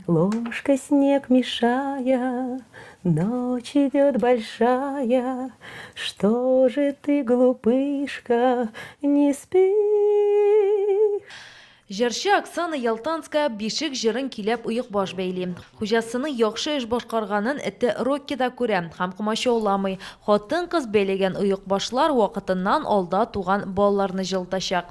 Ложкой снег мешая, Ночь идет большая, Что же ты, глупышка, не спишь? Җырчы Оксана Ялтанская Бишек җырын киләп оекбаш бәйли. Хуҗасының яхшы эш башкарганын эте Рокки да күрә һәм комачауламый. Хатын-кыз бәйләгән оекбашлар вакытыннан алда туган балаларны җылытачак.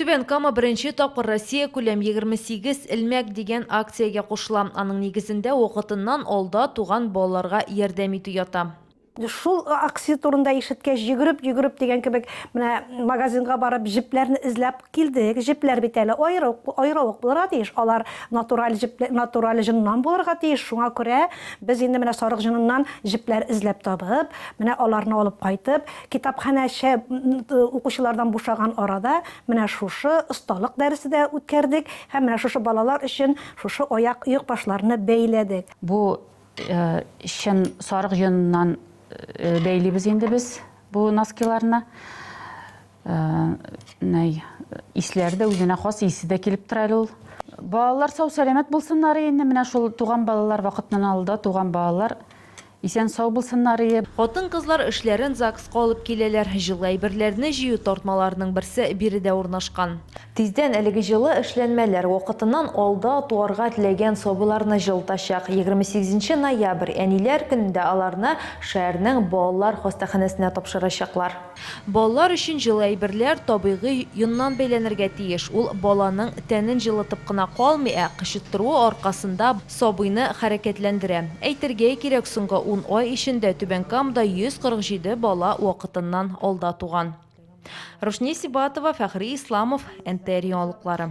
Түбән Кама беренче тапкыр Россия күләм 28 элмәк дигән акциягә кушыла. Аның нигезендә вакытыннан алда туган балаларга ярдәм итү ята. Шул акция турында ишеткәч, йөгереп-йөгереп дигән кебек, менә магазинга барып, җепләрне эзләп килдек. Җепләр бит әле аеры ук булырга тиеш. Алар натураль җеп, натураль җыннан булырга тиеш. Шуңа күрә без инде менә сарык җыныннан җепләр эзләп табып, менә аларны алып кайтып, Китапханәче укучылардан бушаган арада менә шушы осталык дәресе дә үткәрдек һәм менә шушы балалар өчен шушы аяк оекбашларны бәйләдек. Бу чын сарык йоныннан бәйлибез инде без бу носкиларны. Менә исләре дә үзенә хас исе дә килеп тора әле ул. Балалар сау-сәламәт булсыннар инде, менә шул туган балалар вакытыннан алда туган балалар Исән сау булсыннарые. Хатын-кызлар эшләрен ЗАГСка алып киләләр. Җылы әйберләрне җыю тартмаларының берсе биредә урнашкан. Тиздән әлеге җылы эшләнмәләр вакытыннан алда туарга теләгән сабыйларны җылытачак. Егерме сигезенче ноябрь, Әниләр көнендә аларны шәһәрнең балалар хастаханәсенә тапшырачаклар. Балалар өчен җылы әйберләр табигый йоннан бәйләнергә тиеш. Ул баланың тәнен җылытып кына калмый, ә кычыттыруы аркасында сабыйны хәрәкәтләндерә. Әйтергә кирәк, соңгы ун ай эчендә Түбән Камада 147 бала вакытыннан алда туган. Рушния Сибатова, Фәхри Исламов, НТР яңалыклары.